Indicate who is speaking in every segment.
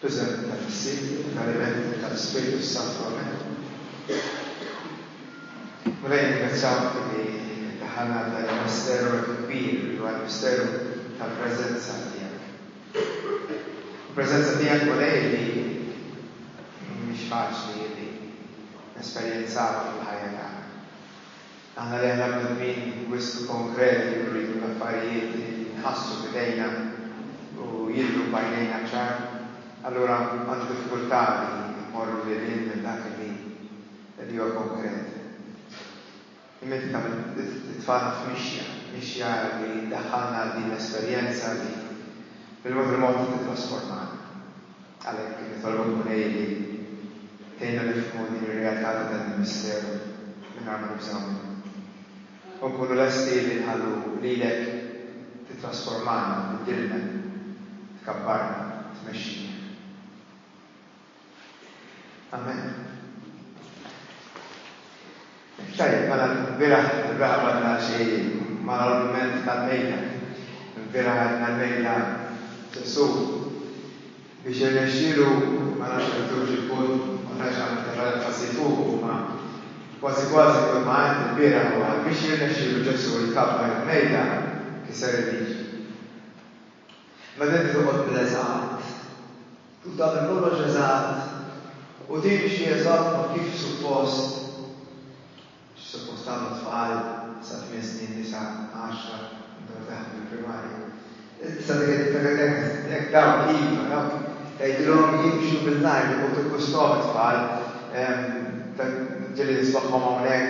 Speaker 1: Preżenti ta' Missieri u ta' l-Elementi ta' l-Ispirtu s-Santu. Amen. Mulej nirringrazzjawk li ddaħħalna għal dan il-misteru hekk kbir li huwa l-misteru tal-preżenza tiegħek. Il-preżenza tiegħek Mulej li mhix faċli li nesperjenzawha fil-ħajja tagħna. Aħna li aħna bnedmin wisq konkreti nridu l-affarijiet li nħassu f'idejna u jidhru b'għajnejna ċar, allura għandi diffikultà li mmorru lil hinn minn dak li li huwa konkret. Imma inti tagħmel it-tfalna f'mixja, mixja li ddaħħalna għal din l-esperjenza li bil-mod il-mod tittrasformana. Għalhekk qed nitolbok, Mulej, li tgħinna nifhmu din ir-realtà ta' dan il-misteru mingħajr ma nibżgħu minnu, u nkunu lesti li nħallu lilek tittrasformana, tbiddilna, tkabbarna, tmexxina. Amen. Tajjeb, mela l-bieraħ il-beraħ badna xejjin, ma l-argument tal-mejda. Il-bieraħ għedna l-mejda Ġesù biex irnexxielu, ma nafx jekk għamiltux il-punt, ma tantx għamilt aktar enfasi fuqu, imma kważi kważi kull ma għedt il-bieraħ huwa biex jirnexxielu Ġesù jkabbar il-mejda kiser il-liġi. Meta inti toqgħod bl-eżatt, tkun tagħmel kollox eżatt u timxi eżatt ma' kif suppost, xi suppost tagħmlu t-tfal sa tmien snin, disa', għaxra, meta wieħed iħaffef il-primarja. Issa dik id-differenza jekk ħassitni hekk, dawk iva, dawk tgħidilhom jimxu bil-lajr, u tiggusthom it-tfal, ġieli nismagħhom hawnhekk,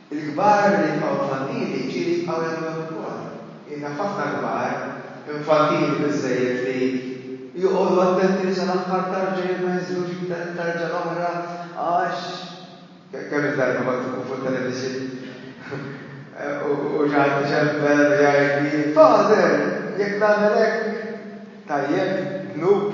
Speaker 1: Il-kbar li jibqgħu infantili ġieli jibqgħu jagħmlu hekk ukoll. Jien naf ħafna kbar infantili biżżejjed li joqogħdu attenti li sal-aħħar tarġa jekk ma jinżlux iktar it-tarġa l-oħra għax Kemm il-darba kont inkun fuq television u xi ħadd iċempel u jgħidli, Father, jekk nagħmel hekk, tajjeb, dnub?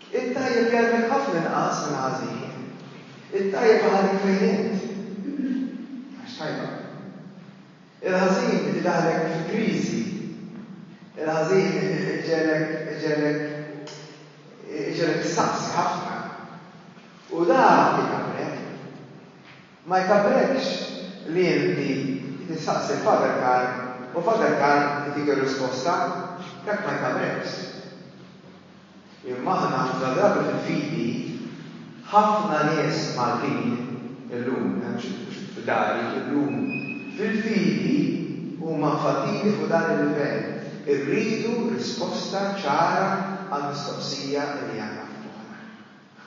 Speaker 1: It-tajjeb jgħallmek ħafna inqas minn ħażin. It-tajjeb iħallik fejn int. Għax tajba. Il-ħażin idaħħlek fi kriżi. Il-ħażin iġegħlek iġegħlek iġegħlek issaqsi ħafna. U dak ikabbrek. Ma jkabbrekx li inti tistaqsi l-Father Karl u Father Karl itik ir-risposta. Dak ma jkabbrekx. Imma aħna ħafna drabi fil-fidi, ħafna nies Maltin illum, mhux f'dari, illum fil-fidi huma mfaddili fuq dan il-livell, irridu risposta ċara għall-mistoqsija li għandna f'moħħna.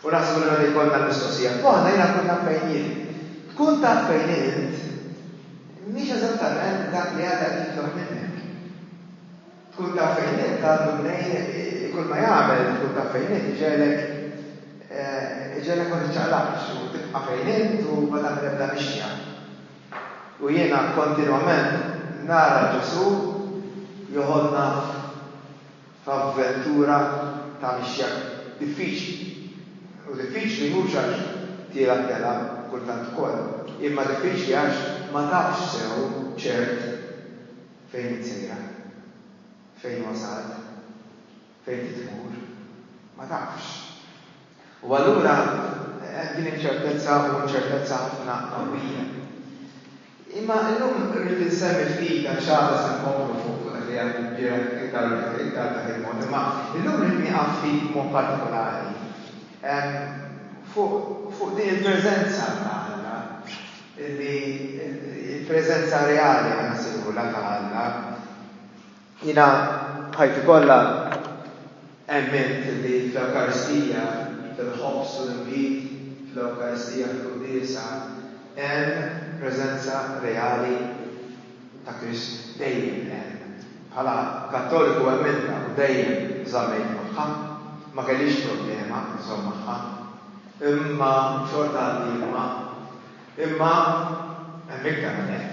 Speaker 1: U naħseb li meta jkollna l-mistoqsija f'moħħna, jiena nkun naf fejn jien. Tkun taf fejn int mhix eżattament dak li Alla qed jitlob minnek. Tkun taf fejn int għandu mnejn kull ma jagħmel, tkun taf fejn int iġegħlek iġegħlek ma tiċċaqlaqx u tibqa' fejn int u ma tagħmel ebda mixja. U jiena kontinwament nara Ġesù joħodna f'. ta' vettura ta' mixja diffiċli. U diffiċli mhux għax tielgħab telgħab kultant ukoll, imma diffiċli għax ma tafx sew ċert fejn int sejra, fejn wasalt, fejn trid tmur. Ma tafx. U allura hemm din inċertezza u inċertezza ħafna qawwija. Imma llum rrid insemmi ftit għax għada se nkomplu fuq dak li għedt il-bieraħ iktar iktar b'dak il-mod. Imma llum rrid nieqaf ftit b'mod partikolari fuq fuq din il-preżenza ta' Alla li il-preżenza reali ħa nsejħulha ta' Alla. Jiena b'ħajti kollha emmint li fl-Ewkaristija, fil-ħobż u l-inbid, fl-Ewkaristija, fil-Quddiesa, hemm preżenza reali ta' Krist. Dejjem hemm. Bħala Kattoliku emmintha u dejjem żammejt magħha. Ma kellix problema nżomm magħha. Imma xorta għandi imma. Imma hemm iktar minn hekk.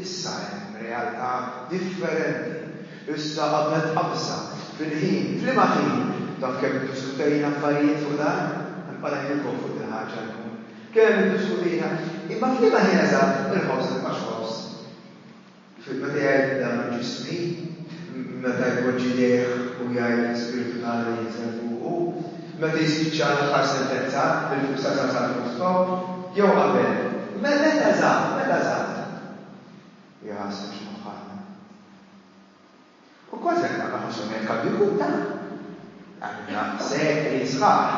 Speaker 1: Issa hemm realtà differenti. Issa qabel tqabżha fil-ħin, f'liema ħin? Taf kemm iddiskutejna affarijiet fuq dan? Nibqa' ngħidilkom fuq dil-ħaġa llum. Kemm iddiskutejna. Imma f'liema ħin eżatt il-ħobż mibqax ħobż? Meta jgħid dan ġismi, meta jpoġġi jdejh u jgħid l-Ispirtu t'Alla jinżel fuqu, meta jispiċċa l-aħħar sentenza bil-fissa ta' San Kristofr, jew qabel, meta żgħar, meta żgħar. U jħassru x'moħħna. U kważi jekk naqra ħossu ngħid kalbi kuta. Għamilna sekli sħaħ,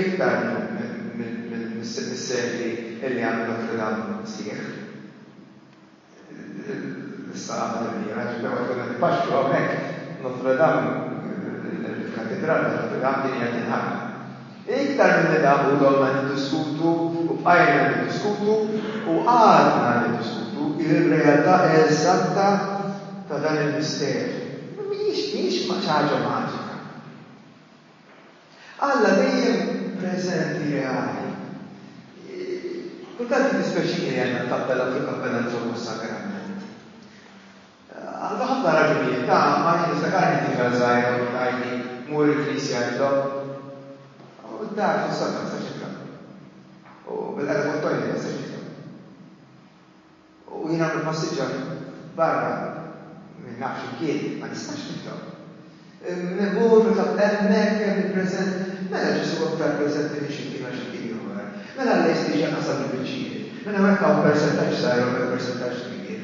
Speaker 1: iktar mis-sekli li għamlu Notre Dame sħiħ. L-Isqaqa tal-Irmiera, ġifieri ma tkun qed ipaxxu hawnhekk, Notre Dame, il-Katidral ta' Notre Dame, din hija tinħalla. Iktar milli dam u domna niddiskutu u bqajna niddiskutu u għadna niddiskutu r-realtà eżatta ta' dan il-misteru, mhijiex xi ħaġa maġika. Alla dejjem preżenti reali. Kultant jiddispjaċini li għandna t-tabbella u fil-kappella nżommu s-sagrament. Għal ħafna raġunijiet, ta' Mari niftakarni tifel żgħir għandu tgħidli mur il-knisja intom. U d-dar fis-sotto ma tistax tifhem. U bil-qegħda fuq it-toilet ma tistax tifhem. U jien hawn nippassiġġa barra minn naf x'imkien, ma nistax niftaħu. Immur nitlob, hemmhekk hemm il-preżenti. Mela Ġesù aktar preżenti minn x'imkien għal x'imkien ieħor. Mela Alla jistiġi anqas għal il-biċċijiet. Minn hawn hekk hawn persentaġġ żgħir u hemmhekk persentaġġ kbir.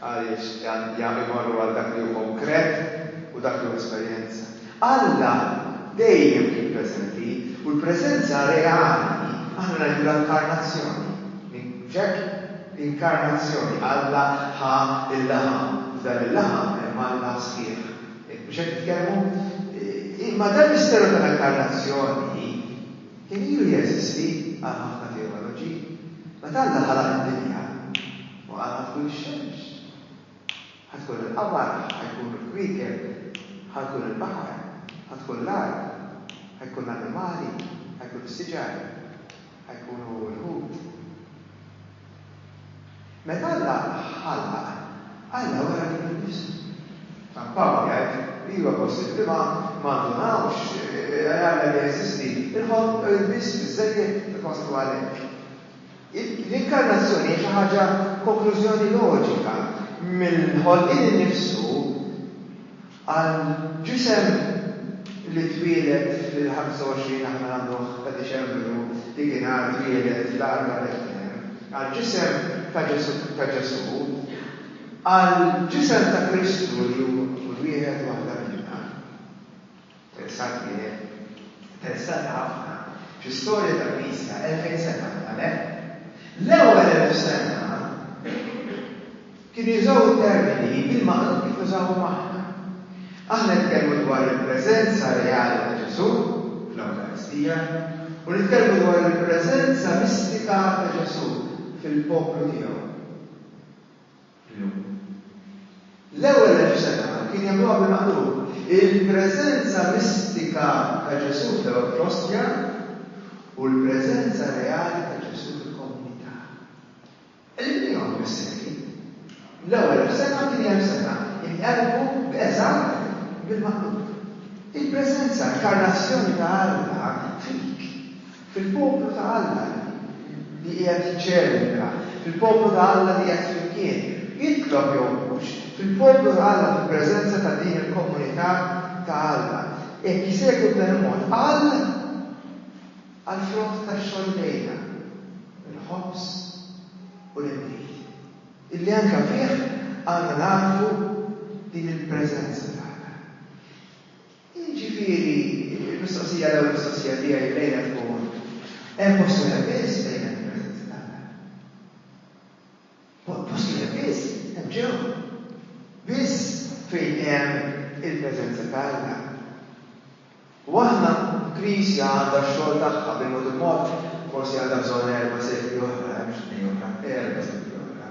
Speaker 1: Għaliex imorru għal dak li hu konkret u dak li hu esperjenza? Alla dejjem kien preżenti, u l-preżenza reali aħna ngħidu l-inkarnazzjoni. Mhux hekk? Inkarnazzjoni, Alla ħa l-laħam. F'dan il-laħam hemm Alla sħiħ. Mhux hekk nitkellmu? Imma dan l-misteru tal-inkarnazzjoni kien ilu jeżisti għal ħafna teoloġi. Meta Alla ħalaq id-dinja, Ma għad ħa tkun ix-xemx. Ħa tkun il-qamar, ħa jkunu l-kwiekeb, ħa jkun il-baħar, ħa tkun l-art, ħa jkun l-annimali, ħa jkun is-siġar, ħa jkunu l-ħut. Meta Alla ħallaq, Alla wera lilu nnifsu. San Pawl jgħid, Iva, possibbli ma ndunawx li Alla jeżisti, il-ħolq biss biżżejjed ifaslu għalhekk. L-inkarnazzjoni hija xi ħaġa konklużjoni loġika mill-ħolqien innifsu għal ġisem li twieled fil-25 aħna nagħmluh ta' Diċembru dikinhar twieled fl-Għarba Betlehem, għal ġisem ta' Ġesù ta' Ġesù, għal ġisem ta' Kristu li hu kull wieħed u waħda minna. Interessat wieħed. Interessati ħafna fl-istorja tal-Knisja elfejn sena qabel, hekk? L-ewwel elf sena kienu jużaw it-termini bil-maqlub kif nużawhom aħna. Aħna nitkellmu dwar il-preżenza reali ta' Ġesù fl-Ewkaristija u nitkellmu dwar il-preżenza mistika ta' Ġesù fil-poplu tiegħu. Illum. L-ewwel elf sena kien jagħmluha bil-maqlub. Il-preżenza mistika ta' Ġesù fl-Ewrokostja u l-preżenza reali ta' Ġesù fil-komunità. Qlibliehom bis-sekli. L-ewwel elf sena u t-tieni elf sena inqelbu b'eżatt bil-maqlub. Il-preżenza, l-karnazzjoni ta' Alla fik. Fil-poplu ta' Alla li qiegħed jiċċelebra, fil-poplu ta' Alla li qiegħed flimkien, jitlob jew mhux, fil-poplu ta' Alla fil-preżenza ta' din il-komunità ta' Alla, jekk isegwu b'dan il-mod, qal għall-frott tax-xogħol idejna, il-ħobż u l-inbid, illi anke fih għandna nagħrfu din il-preżenza ta' Alla. Jiġifieri, il-mistoqsija, l-ewwel mistoqsija tiegħi lejha tkun, hemm post wieħed biss fejn hemm il-preżenza t'Alla? Post wieħed biss? Hemm ġew. Biss fejn hemm il-preżenza t'Alla. U aħna, l-Knisja għandha x-xogħol tagħha, bil-mod il-mod, forsi għandha bżonn erba' sekli oħra, eh, mhux tnejn oħra, erba' sekli oħra,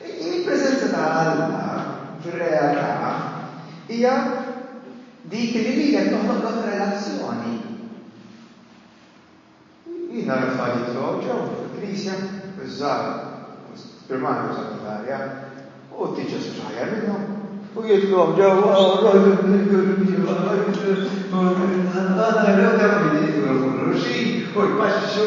Speaker 1: Il-preżenza ta' Alla fir-realtà hija dik li wieħed joħloqlok relazzjoni. Jien nara tfal jidħlu hawn ġew fil-Knisja, iż-żgħar primarja u sekondarja, u t-teachers mhux aħjar minnhom, u jidħlu hawn ġewwa, u jpaxxixu.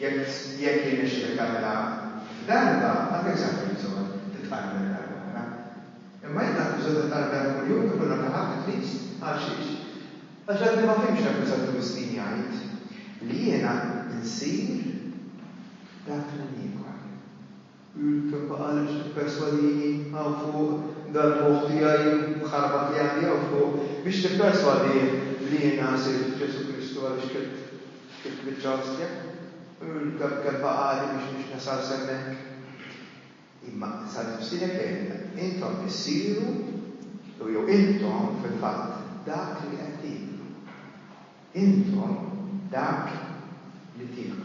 Speaker 1: Jekk jekk jirnexxilek tagħmilha f'darba, ma kellekx għalfejn bżonn titqarreb lejha darba oħra. Imma jekk għandek bżonn titqarreb lejha kull jum ta' kull rakagħa ta' qdis, għalxiex? Għax għadni ma fhimtx dak li San Ġuwistin jgħid, li jiena nsir dak li niekol. L-kebba qalet biex tipperswadini hawn fuq, dal-moħħ tiegħi mħarbat li għandi hawn fuq, biex nipperswadih li jiena sirt f'Ġesù Kristu għaliex klitt il-kmiċċa ostja. L-kebba qalet biex mhux nasal s'hemmhekk. Imma sa nifsilek għidilha, intom issiru, u jew intom fil-fatt dak li qed tieklu. Intom dak li tieklu.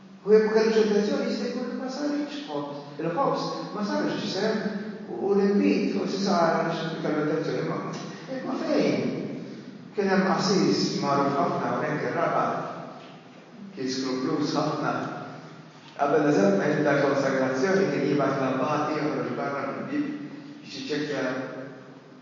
Speaker 1: U jekk ma kellux intenzjoni, jista' jkun li ma sarx ħobż. Il-ħobż ma sarx ġisem, u l-inbid forsi sar għaliex kellu intenzjoni. Imma, imma fejn? Kien hemm qassis magħruf ħafna hawnhekk ir-Rabat, kien skruppluż ħafna. Qabel eżatt ma jibda l-konsagrazzjoni kien jibgħat l-abbati joħroġ barra mill-bieb biex jiċċekkja.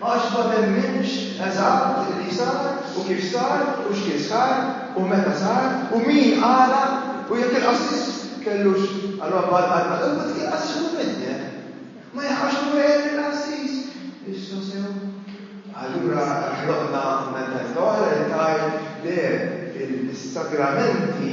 Speaker 1: Għax ma temminx eżatt li sar u kif sar u x'kien sar u meta sar u min qala u jekk il-qassis kellux roba l-qalba imma dik il-qassis ikun middem. Ma jaqax u jgħid lill-qassis, Issa sew? Allura ħloqna mentalità oħra li tgħid, le, is-sagramenti,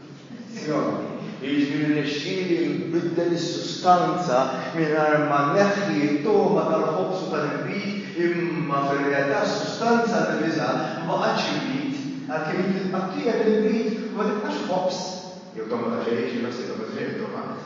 Speaker 1: Zzjoni, jiġifieri rnexxieli nbiddel is-sustanza mingħajr ma nneħħi t-togħma tal-ħobż u tal-inbid, imma fir-realtà s-sustanza diviża ma baqgħetx inbid, għalkemm jekk titqattieq l-inbid ma tibqax ħobż jew togħma ta' xejn, xi jħossibha mill-ġrieħi t-togħma?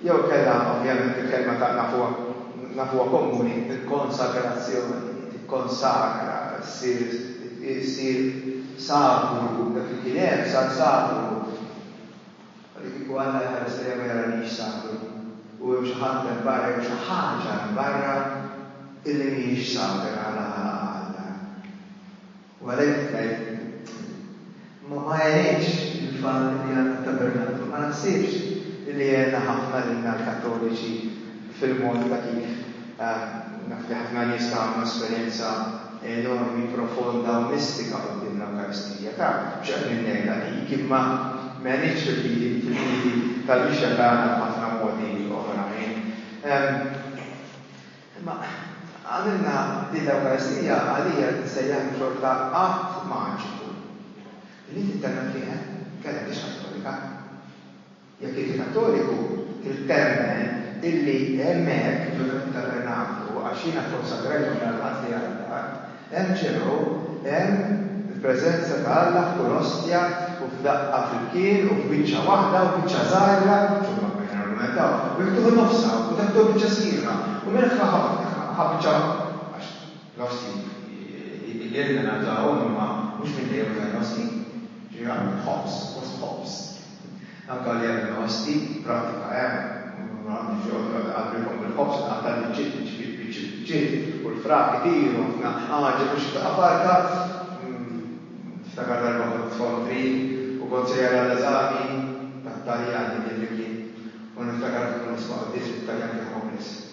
Speaker 1: Jew inkella, ovvjament, il-kelma ta' nafuha nafuha komuni, il-konsagrazzjoni, tikkonsagra, issir issir sagru, dak li kien għerf sar sagru. U li kieku Alla jħares lejja ma jaranix sagru, u hemm xi ħadd hemm barra jew xi ħaġa hemm barra illi mhijiex sagra għala ħalaqha Alla. U għalhekk ngħid, ma jgħinx il-fatt li għandna t-tabernaklu, ma naħsibx li għena ħafna lilna l-Kattoliċi fil-mod ta' kif naf li ħafna nies ta' għamlu esperjenza enormi, profonda u mistika quddiem l-Ewkaristija. Taf, mhux qed ninnega dik, imma m'għenitx fil-fidi tal-Mixja tagħna f'ħafna modi oħrajn. Imma għamilna din l-Ewkaristija għalija li tissejjaħlu xorta att maġiku. Li inti temmen fih, eh? Kellha m'hix Kattolika. Jekk inti Kattoliku, trid temmen illi hemmhekk, ġo Tabernaklu, għax jiena kkonsagrajthom l-Ħadd li għadda, MCO, hemm il-preżenza ta' Alla f'kull ostja u f'daqqa flimkien u f'biċċa waħda u biċċa żgħira, insomma, biex nargumentaw, wieħed tieħu nofsha u dak tieħu biċċa sħiħa u minn hekk ħa biċċa waħda, għax l-ostji ilna nafdawhom imma mhux minn dejjem użajna ostji, ġieli għamilna ħobż, fost ħobż. Anke għalija li nħossni prattika hemm u għandi xi oħra li qalbilkom bil-ħobż ingħata l-biċċiet niġbid biċċ il-biċċiet u l-frak itiru ħafna għaġeb u xi ftaqa farka Niftakar darba kont f'form three u kont sejjer għall-eżami tat-Taljan dak id-dak il-ħin u niftakar kif kont nisma' quddies bit-Taljan kien ħobblis.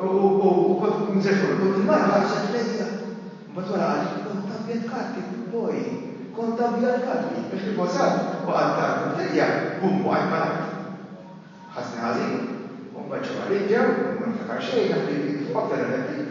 Speaker 1: U kont, kont se xogħol, kont il-mara ħarset lejja. Mbagħad wara qalet li kont abjad karti, boi, kont abjad karti, għax riposat u qatt tard u b'dejja bum waqgħet mal-art. Ħassni ħażin, u mbagħad ġew għalija u ma niftakar xejn, naħseb li kif waqfet għalhekk bkejt.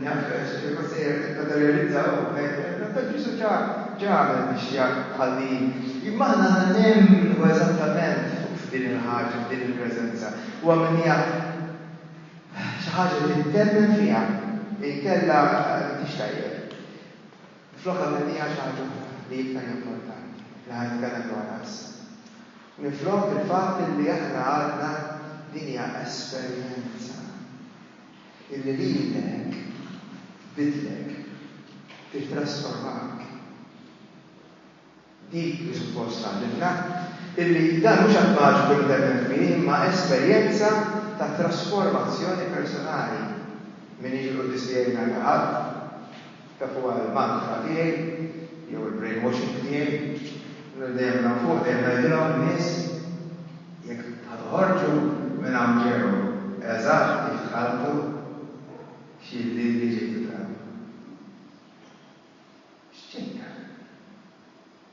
Speaker 1: Naf Sur Konsejjer qed tibqa' tirrealizza u tgħid Ġesù x'għamel biex jħalli. Imma aħna aħna nemmnu eżattament f'din il-ħaġa, f'din il-preżenza. Huwa min hija xi ħaġa li temmen fiha, inkella m'intix tajjeb. Minflokha min hija xi ħaġa oħra li iktar importanti li ħa nitkellem dwarha issa. Minflok il-fatt li aħna għadna din hija esperjenza. illi lilek tbiddlek, tittrasformak. Dik li suppost tgħallimna, illi dan mhux att maġiku li temmen fih imma esperjenza ta' trasformazzjoni personali. M'iniex il-quddies tiegħi ngħidha ħadd. Dak huwa l-mantra tiegħi jew il-brainwashing tiegħi. Allura dejjem minn hawn fuq dejjem ngħidilhom in-nies jekk ħa toħorġu minn hawn ġew eżatt kif dħaltu xi ħliel li ġejtu tagħmlu. X'ġej tagħmlu?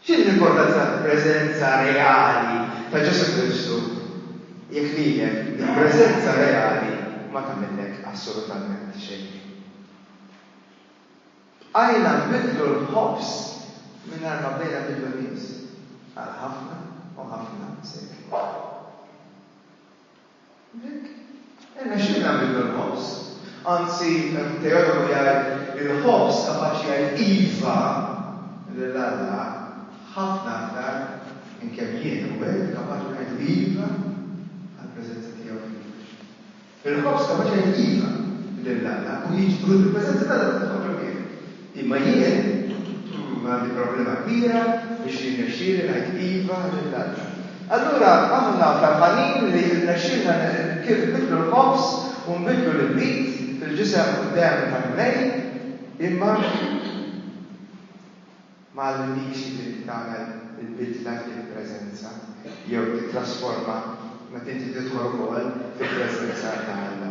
Speaker 1: Fir-rigward tal-preżenza reali ta' Ġesù Kristu, jekk ngħidlek, il-preżenza reali ma tagħmillek assolutament xejn. Bqajna nbiddlu l-ħobż mingħajr ma bdejna nbiddlu n-nies għal ħafna u ħafna sekli. Dik, irnexxielna nbidlu l-ħobż. Anzi, teologu jgħid, il-ħobż kapaċi jgħid iva lil Alla ħafna aktar minn kemm jien u int kapaċi ngħidu iva għall-preżenza tiegħu fina. Il-ħobż kapaċi jgħid iva lil Alla u jiġbru fil-preżenza t'Alla f'moħħok jew f'idejk. Imma jien għandi problema kbira biex jirnexxieli ngħid iva lil Alla. Allura aħna ferħanin li rnexxielna kif nbiddlu l-ħobż u nbiddlu l-inbid fil-ġisem u d-demm tal-Mulej, imma ma għallimniex li inti tagħmel il-bidla fil-preżenza jew tittrasforma meta inti tidħol ukoll fil-preżenza ta' Alla.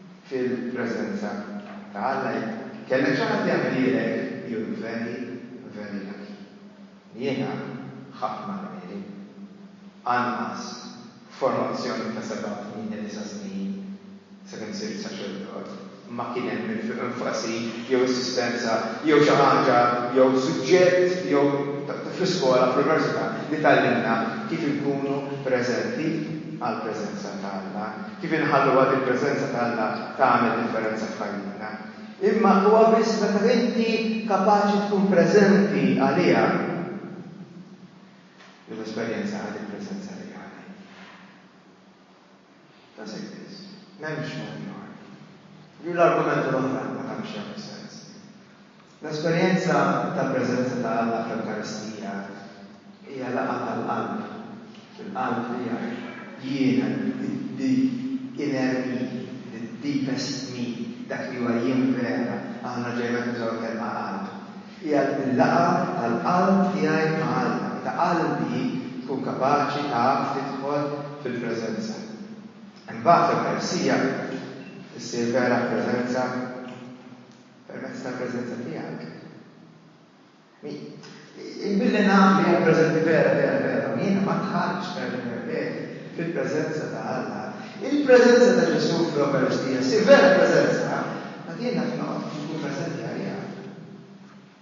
Speaker 1: fil-preżenza ta' Alla, jekk kellek xi ħadd jgħidilek, jew veri, veri ngħidlek, jiena ħadt ma nagħmilhi, anqas f'formazzjoni ta' seba', tmienja, disa' snin, sakemm sirt saċerdot, ma kien hemm enfasi jew insistenza jew xi ħaġa jew suġġett jew fl-iskola, fl-università, li tgħallimna kif inkunu preżenti għall-preżenza ta' Alla. Kif inħalluha din il-preżenza ta' Alla tagħmel differenza f'ħajjitna? Imma huwa biss meta inti kapaċi tkun preżenti għaliha li tesperjenzaha din il-preżenza reali. Does it is? M'hemmx mod ieħor. Ju l-argumenti l-oħra ma tantx jagħmlu sens. L-esperjenza tal-preżenza ta' Alla fl-Ewkaristija hija laqgħa tal-qalb, il-qalb li jaf jiena the inner me, the deepest me, dak li huwa jien vera, aħna ġejna nużaw il-kelma qalb. Hija l-laqgħa tal-qalb tiegħi ma' Alla, meta qalbi tkun kapaċi taf tidħol fil-preżenza. Imbagħad l-Ewkaristija issir vera preżenza. Permezz tal-preżenza tiegħek. Billi naf li hemm preżenti vera, vera, vera, u jiena ma dħaltx, nerġa' nirrepeti, fil-preżenza ta' Alla, il-preżenza ta' Ġesù fl-Ewkaristija ssir vera preżenza, mbagħad jien naf li noqgħod inkun preżenti għaliha.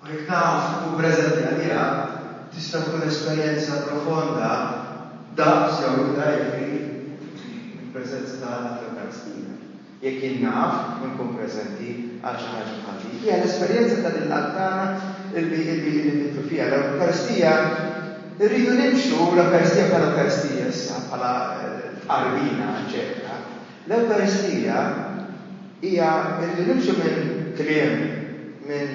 Speaker 1: U jekk taf tkun preżenti għaliha, tista' tkun esperjenza profonda daqs jew iktar jekk trid mill-preżenza ta' Alla fl-Ewkaristija. Jekk jien naf u nkun preżenti għal xi ħaġa bħal din, hija l-esperjenza ta' din l-Qalb tagħna li nidhru fiha l-Ewkaristija. Irridu nimxu l-Ewkaristija bħala Ewkaristija issa, bħala tqarbina, eċċetera. L-Ewkaristija hija li nimxu minn kliem, minn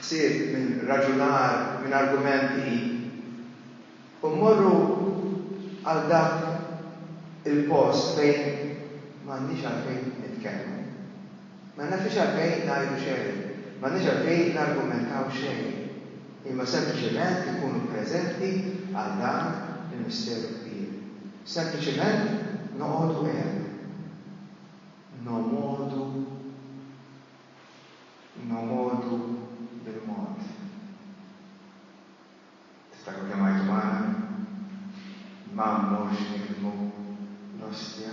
Speaker 1: ħsieb, minn raġunar, minn argumenti u mmorru għal dak il-post fejn m'għandniex għalfejn nitkellmu. Ma nafx għalfejn ngħidu xejn, m'għandniex għalfejn nargumentaw xejn, imma sempliċement inkunu preżenti għal dan il-misteru kbir. Sempliċement noqogħdu hemm. Nomodu, nomodu bil-mod. Tiftakru kemm għajtu magħna? Ma mmorrx niktmu l-ostja.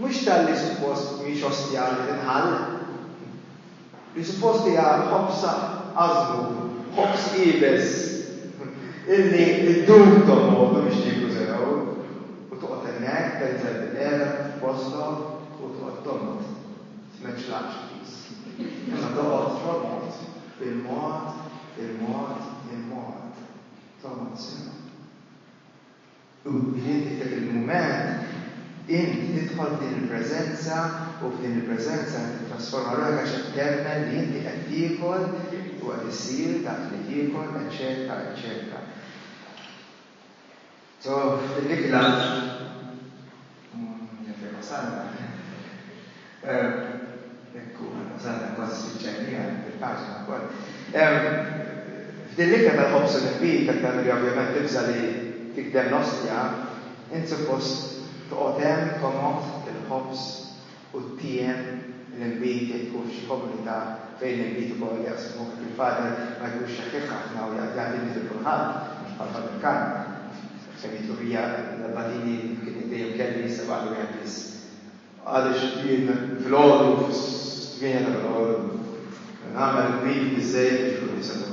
Speaker 1: Mhux talli suppost mhix ostja li tinħall, li suppost hija ħobż għażmur, ħobż iebes illi ddum tonqogħdu biex nieklu sew, u toqgħod hemmhekk tenżel bil-qiegħda f'postok u toqgħod tonqod, tmeċċlaqx piż. Imma toqgħod tonqod bil-mod, il-mod, il-mod, tonqod sew. U inti f'dak il-mument, int tidħol f'din il-preżenza, u f'din il-preżenza int tittrasforma ruħek għax qed temmen li inti qed tiekol u qed issir dak li tiekol, eċċetera, eċċetera. So, f'dik l-għaġ. F'din l-ikla tal-ħobż u l-inbid, aktar milli ovvjament tibża' li tigdel l-ostja, int suppost toqgħod hemm komod bil-ħobż. u t-tiem l-inbid jitħu f'xi komunità fejn l-inbid ukoll jaqsmu hekk il-fader ma jkunx xeħħiħ ħafna u jaqbad jagħti inbid lil kulħadd, mhux bħal fader Khan, fejn jidħlu mija l-abbatini kien dejjem kelli issa baqgħeli wieħed biss. Għaliex jien filgħodu fis-tmienja ta' filgħodu nagħmel inbid biżżejjed biex ikun hemm setgħut.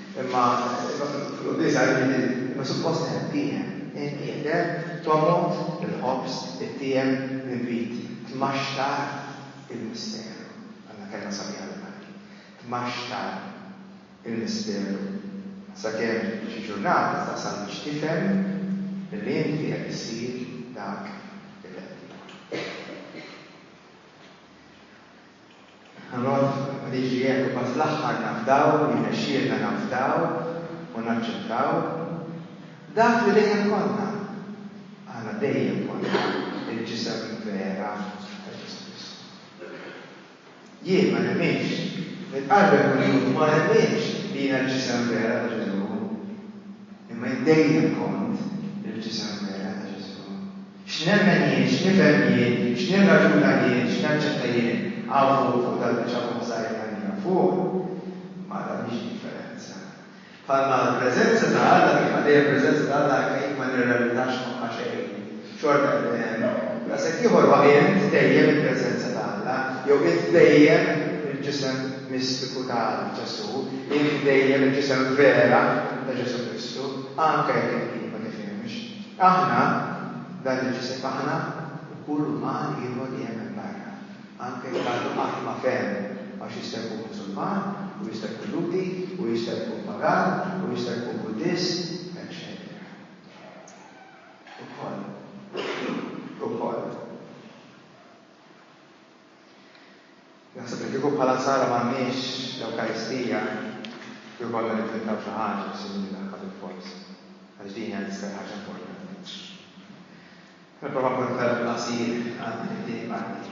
Speaker 1: Imma fil-qbiż għajruni din imma suppost hemm tiehem, hemm qiegħed hemm, tomgħod il-ħobż, ittiehem l-inbid, tmaxxar il-misteru. Għandna kelma sabiħa bil-Malti. Tmaxxar il-misteru. Sakemm xi ġurnata tasal biex tifhem li inti qed issir dak li qed tkun. Ħanqgħod niġri hekk u mbagħad fl-aħħar nafdaw, jirnexxielna nafdaw u naċċettaw dak li dejjem konna. Aħna dejjem konna l-ġisem vera ta' Ġesù Kristu. Jien ma nemminx, nitqarreb kuljum u ma nemminx li jiena l-ġisem vera ta' Ġesù, imma jien dejjem kont il-ġisem vera ta' Ġesù. X'nemmen jien, x'nifhem jien, x'nirraġuna jien, x'naċċetta jien, hawn fuq, fuq dal-biċċa fuq ħsajrna li hawn fuq, ma tagħmilx differenza. Bħalma l-preżenza ta' Alla mhix qatt dejjem preżenza ta' Alla anke jekk ma nirrelatax magħha xejn, xorta hemm li hemm, u daqshekk ieħor huwa int tbejjem il-preżenza ta' Alla, jew int tbejjem il-ġisem mistiku ta' Ġesù, int tbejjem il-ġisem vera ta' Ġesù Kristu, anke jekk il-bniedem ma tifhimx. Aħna, dan il-ġisem aħna, u kull uman ieħor li hemm hemm barra, anke jekk għadu qatt ma fehem, għax jista' jkun Musulman, u jista' jkun Lhudi, u jista' jkun Pagan, u jista' jkun Buddist, eċċetera. Ukoll. Ukoll. Naħseb li kieku bħala Nsara m'għandniex l-Ewkaristija, kieku konna nivvintaw xi ħaġa biex innidu l-ħakka bilfors, għaliex din hija l-iżgħar ħaġa importanti. Nipprova nkun ferm qasir għal din it-tieni parti.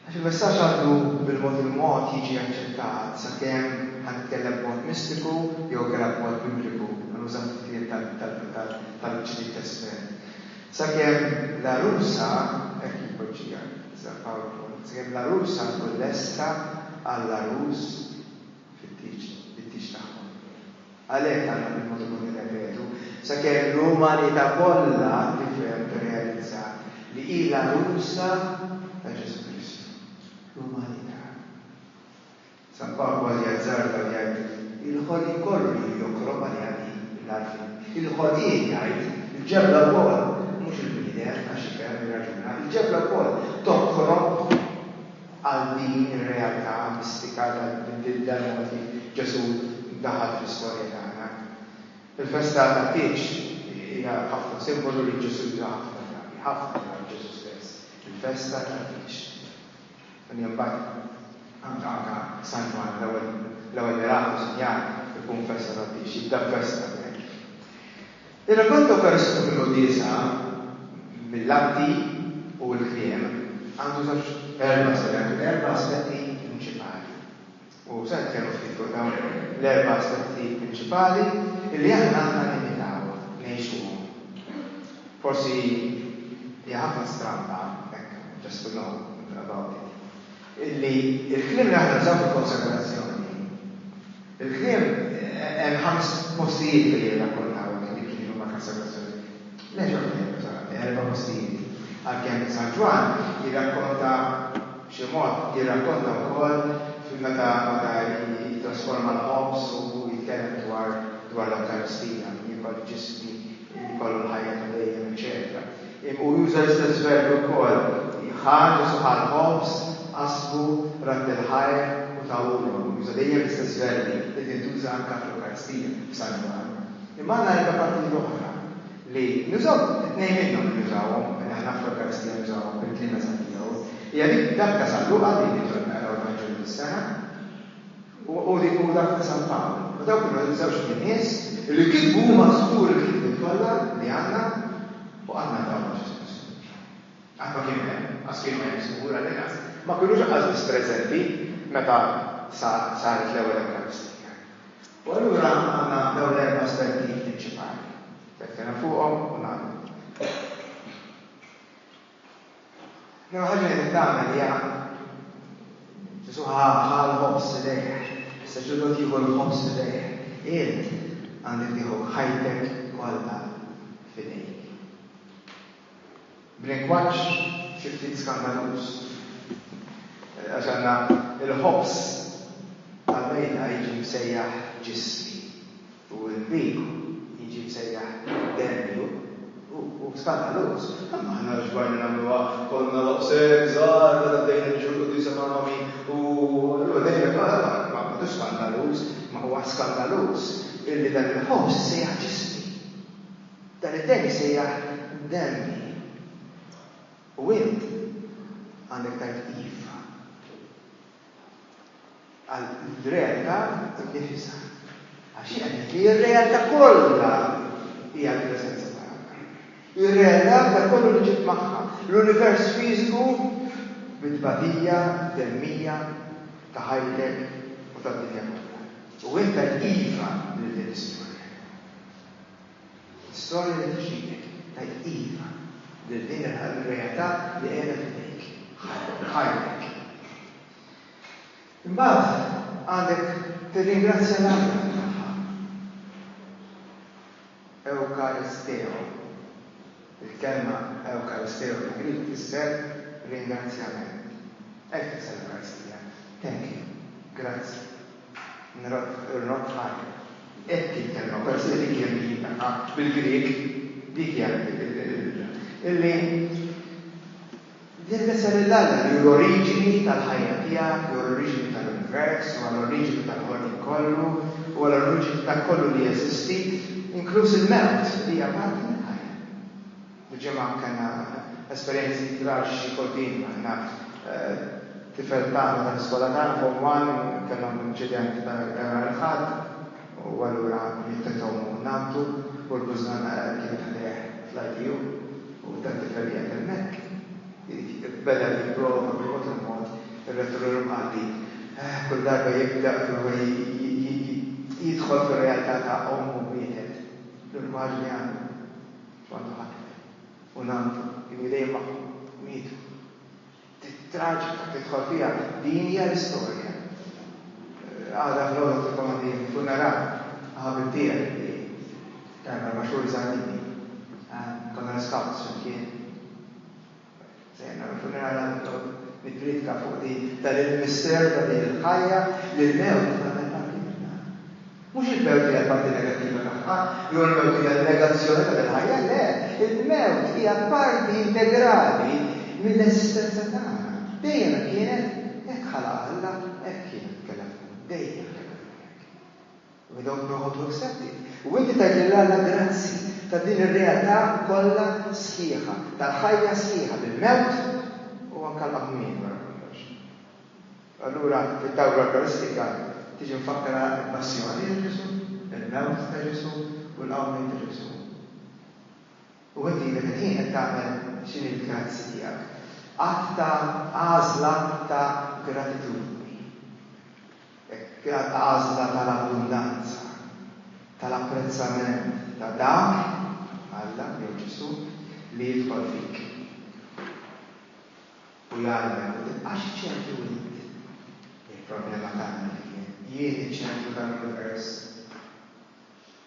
Speaker 1: Għax il-messaġġ għandu bil-mod il-mod jiġi aċċettat, sakemm, ħa nitkellem b'mod mistiku jew kellha b'mod bibliku, ħa nuża ftit kliem tal-Ġdid Testment, sakemm l-għarusa, hekk jpoġġiha, iżda Pawl Pont, sakemm l-għarusa tkun lesta għall-għarus fit-tieġ tagħhom. Għalhekk għandna bil-mod-il-mod nirrepetu, sakemm l-umanità kollha tifhem tirrealizza li hi l-għarusa ta' Ġesù Kristu. L-umanità. San Pawl kważi jazzarda u jgħid, Il-ħolqien kollu ilu jokrob għaliha din, il-għarfien. Il-ħolqien, jgħid, il-ġebla wkoll, mhux il-bniedem għax jifhem, jirraġuna, il-ġebla wkoll tokrob. Għal din ir-realtà mistika tal-tbidil tal-modi, Ġesù daħal fl-istorja tagħna. Il-festa tat-Tieġ hija ħafna simbolu li Ġesù juża ħafna drabi, ħafna drabi Ġesù stess, il-festa tat-Tieġ. Din hija mbagħad anke anke San Ġwann l-ewwel l-ewwel miraclu sinjal ikun festa tat-Tieġ, jibda b'festa hemmhekk. Ir-Regatta Ewkaristika fil-Quddiesa mill-Atti u l-Kliem għandu żewġ, erba' se ngħidu, erba' aspetti prinċipali. U se nitkellmu ftit fuq dawn l-erba' aspetti prinċipali illi aħna għandna nimitaw, ngħixuhom. Forsi hija ħafna strampa hekk just to know about it. li l-kliem li aħna nużaw fil-konsagrazzjoni, il-kliem, hemm ħames postijiet li jirrakkontaw li kien jkun mal-konsagrazzjoni. Nerġa' nfejjek sa erba' postijiet. Għalkemm San Ġwann jirrakkonta b'xi mod, jirrakkonta wkoll fil-meta meta jittrasforma l-ħobż u jitkellem dwar dwar l-Ewkaristija, jiekol ġismi, li jkollu l-ħajja ta' dejjem, eċċetera Hu juża l-istess verbi wkoll, ħa Ġesù ħa l-ħobż, qasmu, radd il-ħajr u tahulhom. Hu juża dejjem l-istess verbi li tintuża anke fl-Ewkaristija, f'San Ġwann. Imma għandna erba' partijiet oħra li nużaw, tnejn minnhom li nużawhom, li aħna fl-Ewkaristija nużawhom bil-kliem eżatt tiegħu, hija dik dak ta' San Luqa li nitolbu naqraw l-Vanġelu fis-sena, u dak ta' San Pawl. U dawn kienu iż-żewġt nies li kitbu huma żgur il-kitbiet kollha li għandna u qatt ma ntqabdu ma' Ġesù Kristu. Qatt ma kienu hemm, qas kienu hemm żgur għall-inqas, ma kinux qas biss preżenti meta saret l-ewwel Ewkaristija. U allura għandna dawn l-erba' aspetti prinċipali li tkellem fuqhom u nagħlqu. L-ewwel ħaġa li qed tagħmel hija Ġesù ħa ħa l-ħobż f'idejh, is-saċerdot jieħu l-ħobż f'idejh. Int għandek tieħu ħajtek kollha f'idejk. B'lingwaġġ xi ftit skandaluż. Għax għandna l-ħobż tal-mejda jiġi msejjaħ ġismi. u l-bib jiġi msejjaħ Dennju, hu hu skandaluż. Imma aħna xbajna nagħmluha, konna daqshekk żgħar meta bdejna niġu l-quddiesa ma' Mami u allura dejna ma ma tux skandaluż, imma huwa skandaluż illi dan il-ħobż issejjaħ ġismi, dan id-demm jissejjaħ demmi. U int għandek tgħid iva. għall-realtà innifisha. Għax hi qed tgħid li r-realtà kollha hija l-preżenza ta' Alla. Hi r-realtà ta' kollu li ġib magħha l-univers fiżiku mit-tbatija demmija ta' ħajtek u tad-dinja kollha. U int qed iva lil din l-istorja. L-istorja li tixhidek tgħid iva lil din ir-realtà li qiegħda f'idejk, ħajtek. Imbagħad għandek tirringrazzja l-Alla tagħha. Eucharisteo, Il-kelma eucharisteo bil-Grieg tfisser ringrazzjament. Hekk tfisser l-Ewkaristija, thank you, grazzi. Nrotħan, hekk jitkelma, peress li dik hija l-lingua, bil-Grieg, dik hija l-lingua. Illi din l-isem il-Alla li hu l-oriġini tal-ħajja tiegħek, hu l-oriġini tal-univers, huwa l-oriġini tal-ħolqien kollu, huwa l-oriġini ta' kollu li jeżisti, inkluż il-mewt, hija parti mill-ħajja. Il-ġimgħa kellna esperjenzi traġiċi quddiemna. Jiena tifel tagħna tal-iskola tagħna, Form One, kellhom inċident ta' nhar il-Ħadd u allura mitet omm u nanntu u l-bużna kienet għalih fl-ITU u dal-tifel qiegħed hemmhekk irid beda jipprova bil-mod il-mod ir-Rettur l-Imqaddi kull darba jibda jipprova jidħol fir-realtà ta' omm u mietet. L-immaġni għadu. Kont akli u ngħandu kien jidejn magħhom, mietu. Ftit traġika tidħol fiha, din hija l-istorja. Għada filgħodu qed inkun għandi l-funeral ta' ħabib tiegħi li kien erba' xhur iżgħar minni. Konna l-iskawts flimkien. Se jien nagħmel funeral għal Tom nippridka fuq din ta' lill-Mister ta' din il-ħajja li l-mewt hija tagħmel parti minnha. Mhux il-mewt hija l-parti negattiva tagħha jew il-mewt hija n-negazzjoni ta' dil-ħajja, le, il-mewt hija parti integrali mill-eżistenza tagħna. Dejjem hekk kienet, hekk ħalaqha Alla, hekk kienet kellha tkun, dejjem kellha tkun hekk. Minhom noqogħdu msebbi. U inti tgħid lil Alla grazzi ta' din ir-realtà kollha sħiħa, tal-ħajja sħiħa bil-mewt u anke l-qamħmien wara kollox. Allura fid-dawl l-Eukaristika tiġi mfakkra l-passjoni ta' Ġesù, il-mewt ta' Ġesù u l-qawmien ta' Ġesù. U inti dak il-ħin qed tagħmel x'inhi l-grazzi tiegħek. Att ta' għażla ta' gratitudni. Hekk għażla tal-abbundanza, tal-apprezzament ta' dak, Alla jew Ġesù, li jidħol fik u jgħallmek u tibqax iċ-ċentru int. Il-problema tagħna kif hi? Jien iċ-ċentru tal-univers?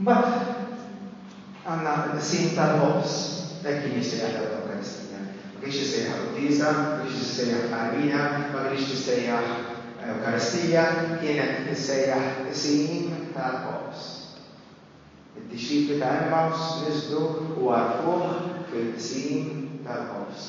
Speaker 1: Mbagħad għandna l-qsim tal-ħobż, hekk kien jissejjaħ l-ewwel Ewkaristija. Ma kienx jissejjaħ quddiesa, ma kienx jissejjaħ tqarbina, ma kinitx tissejjaħ Ewkaristija, kienet tissejjaħ qsim tal-ħobż. Id-dixxipli ta' Emmaws niżlu u għarfuh fil-qsim tal-ħobż.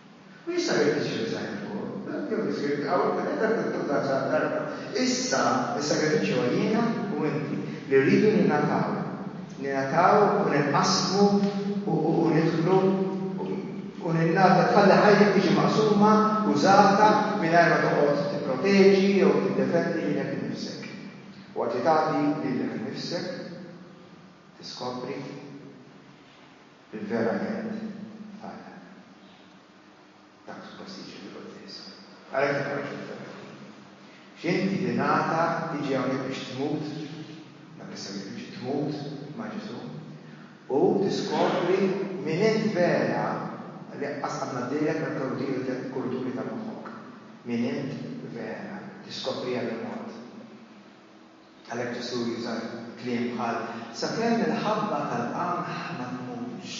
Speaker 1: U jista' jrid isir design fuqhom, le, jew li jsir hawn kien hemm ridundanza għal darba. Issa s-sagrifiċċju hu jiena u inti li rridu ningħataw, ningħataw u ninqasmu u nidħlu u ningħata tħalli ħajtek tiġi maqsuma, użata, mingħajr ma toqgħod tipproteġi jew tiddefendi lilek innifsek. U waqt li tagħti lilek innifsek, tiskopri. Verament, tgħallem. Dak suppost jiġri fil-Quddiesa. Għalhekk tibqgħux fil-ferħ. X'inti tingħata tiġi hawnhekk biex tmut, dak is-sagrifiċċju tmut ma' Ġesù, u tiskopri min int vera li qaqqas qatt ngħaddilek meta tgħollu tieħdu tliet kulturi ta' moħħok. Min int vera. Tiskopriha bil-mod. Għalhekk Ġesù juża kliem bħal, Sakemm il-ħabba tal-qamħ ma tmutx,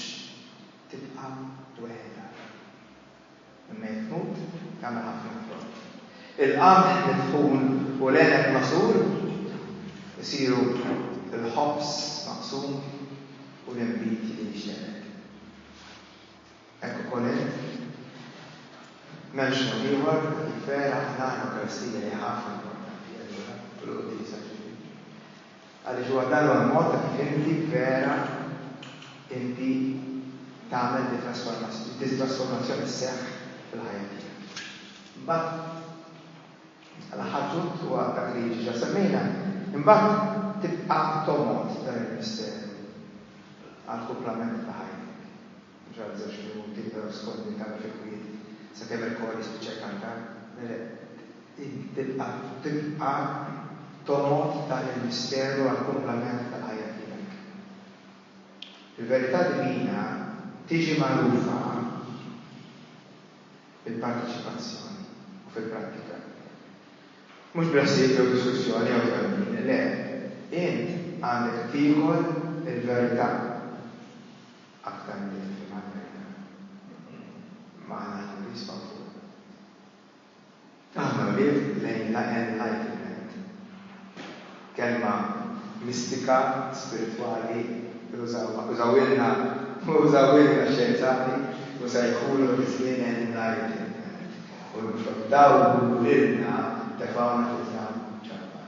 Speaker 1: tibqa' weħidha. Imma jekk tmut, tagħmel ħafna frott. Il-qamħ mitħun u l-għeneb magħsur isiru l-ħobż maqsum u l-inbid li jixteret. Hekk ukoll int. M'hemmx mod ieħor, ħbib vera, aħna, l-Ewkaristija hija ħafna importanti allura, u l-Quddiesa ġieli. Għaliex huwa dan huwa l-mod ta' kif inti vera inti tagħmel di trasformazzjoni sseħħ fil-ħajja tiegħek. Imbagħad l-aħħar punt huwa dak li ġiġa semmejna, imbagħad tibqa' tomgħod dan il-misteru għall-kumplament ta' ħajtek. Ġara żewġ minuti, però skont min tagħmel fi kwiet, sakemm il-kor jispiċċa jkantar. Mele, int tibqa' tibqa' tomgħod dan il-misteru għall-kumplament tal-ħajja tiegħek. Il-verità divina tiġi magħrufa bil-parteċipazzjoni u fil-prattika. Mhux b'ħsieb jew diskussjoni jew twemmin, le, int għandek tiekol il-verità. Aktar milli tifhem Amerika minn hi, imma aħna aħjar iqsma fuqha. Aħna wlied lejn l-enlightenment, kelma mistika, spiritwali li użawha, użawhielna, użawhielna x-xjenzati u sejħulu fiż-żmien enlightenment u l-mixgħuba dawk li lilna tefgħuna fi żlam ġabbar.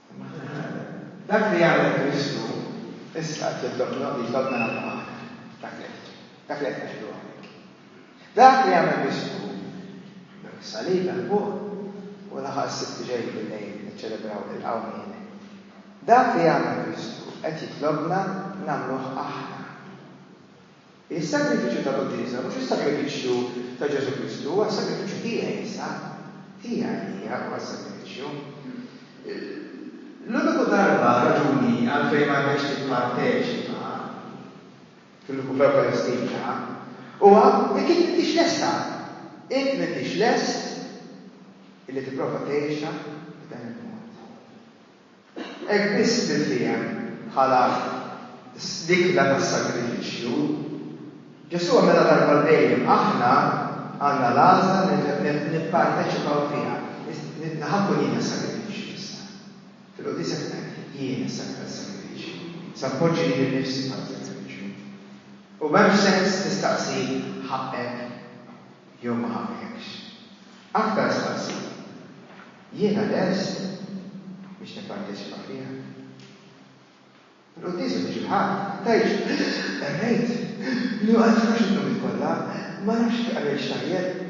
Speaker 1: Dak li għamel Kristu issa qed jitlobna u jitlobna nagħmlu aħna. Dak li qed dak li qed ngħidu hawnhekk. Dak li għamel Kristu dak is-salib hemm fuq u laħaq is-Sibt li ġej bil-lejl niċċelebraw il-Qawmien. Dak li għamel Kristu qed jitlobna nagħmluh aħna. Is-sagrifiċċju ta' quddiesa mhux is-sagrifiċċju ta' Ġesù Kristu, huwa s-sagrifiċċju tiegħi issa. Hi għalija huwa s-sagrifiċċju. L-uniku darba, raġuni, għalfejn ma għandekx tipparteċipa fl-Ewkaristija huwa jekk int m'intix lesta. Int m'intix lest illi tipprova tgħixha b'dan il-mod. Hekk biss tinftiehem bħala l-ikla tas-sagrifiċċju. Ġesù għamilha darba għal dejjem. Aħna għandna l-għażla nipparteċipaw fiha. Nitna' ħa nkun jiena s-sagrifiċċju issa. Fil-quddiesa kien hekk, jiena s-sagrifiċċju. Se npoġġi lili nnifsi bħala sagrifiċċju. U m'hemmx sens tistaqsi ħaqqek jew ma ħaqqekx. Aktar staqsi. Jiena lest biex nipparteċipa fiha. Il-quddiesa ta' xi ħadd tgħidx, Qerrejt li ma nifhimx il-logħbiet kollha, ma nafx jekk qrejtx tajjeb.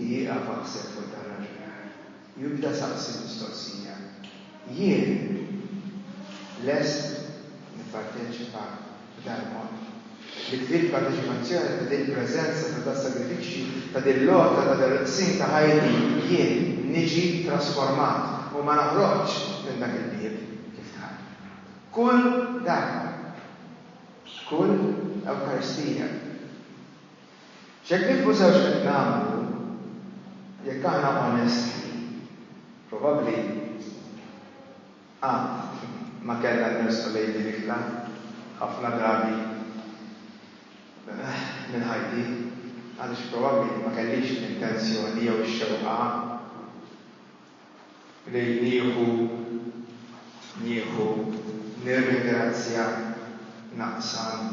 Speaker 1: Ieqaf aħseb fuq dan l-aġbiħ u ibda saqsi l-mistoqsija, Jien lest nipparteċipa? Belmont. Il-ktieb ta' difimazzjoni ta' din preżenza ta' das-sagrifiċċju, ta' din l-għotja ta' dan il-qsim ta' ħajti, jien niġi trasformat u ma noħroġx minn dak il-bieb kif dħalt. Kull darba. Kull Ewkaristija. X'jekk nifhmu sew x'qed nagħmlu, jekk aħna onesti, probabbli, Qatt ma kellna nħarsu lejn din iktar. Ħafna drabi minn ħajti, għaliex probabbli ma kellix l-intenzjoni jew ix-xewqa li nieħu, nieħu, nirringrazzja, naqsam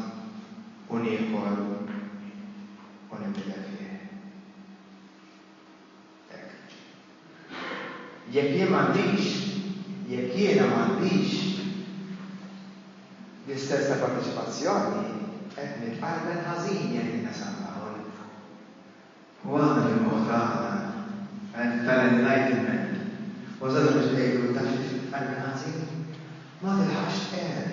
Speaker 1: u niekol u ninbidel fih. tekniċi. Jekk jien m'għandix, jekk jiena m'għandix l-istess ta' parteċipazzjoni, qed nitqarbel ħażin jekk innesa' l-ħaħol minn fuq. U aħna fil-moħħ tagħna, għedt tal-Enlightenment, użata biex ngħidu, taf xi trid tqarbel ħażin? Ma tilħaqx tqerr.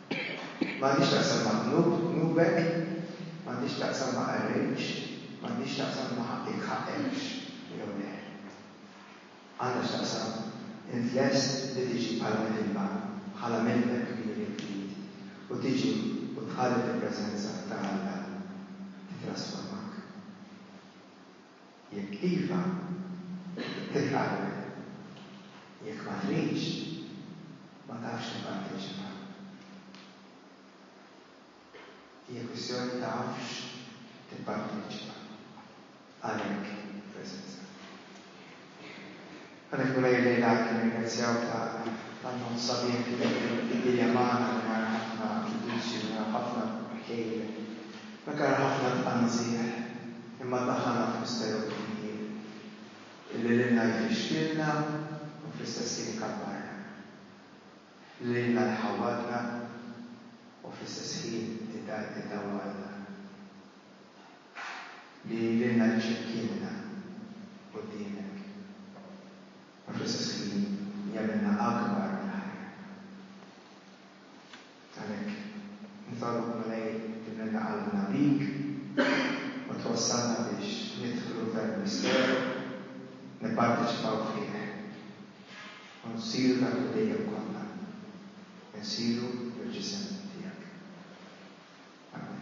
Speaker 1: M'għandhiex taqsam ma' dnub, dnubek, m'għandhiex taqsam ma' qarrejx, m'għandhiex taqsam ma' ħaqqik, ħaqqekx, jew le. Għandha x'taqsam int lest li tiġi bħala midinba, bħala midneb kbir jekk trid, u tiġi u tħalli fil-preżenza ta' Alla titrasformak? Jekk iva, tilqagħlek. Jekk ma tridx, ma tafx tipparteċipa. Hija kwistjoni ta' afx tipparteċipa. Għalhekk preżenza. Għalhekk wara hi llejla anki nirringrazzjaw ta' l-annunt sabiħ li qed iddilja magħna mingħajr ħafna ġudizzju, mingħajr ħafna kejl, mingħajr ħafna tqanżiħ, imma ddaħħalna f'misteru kbir illi lilna jfixkilna u fl-istess ħin ikabbarna, li lilna jħawwadna u fl-istess ħin idawwalna. li jgħidilna li xi mkien hemm quddiemek, u fl-istess ħin jagħmilna akbar mill-ħajja. Għalhekk, nitolbok, Mulej, timlilna qalbna bik u twassalna biex nidħlu f'dan il-misteru, nipparteċipaw fih, u nsiru dak li dejjem konna, insiru l-ġisem tiegħek. Amen.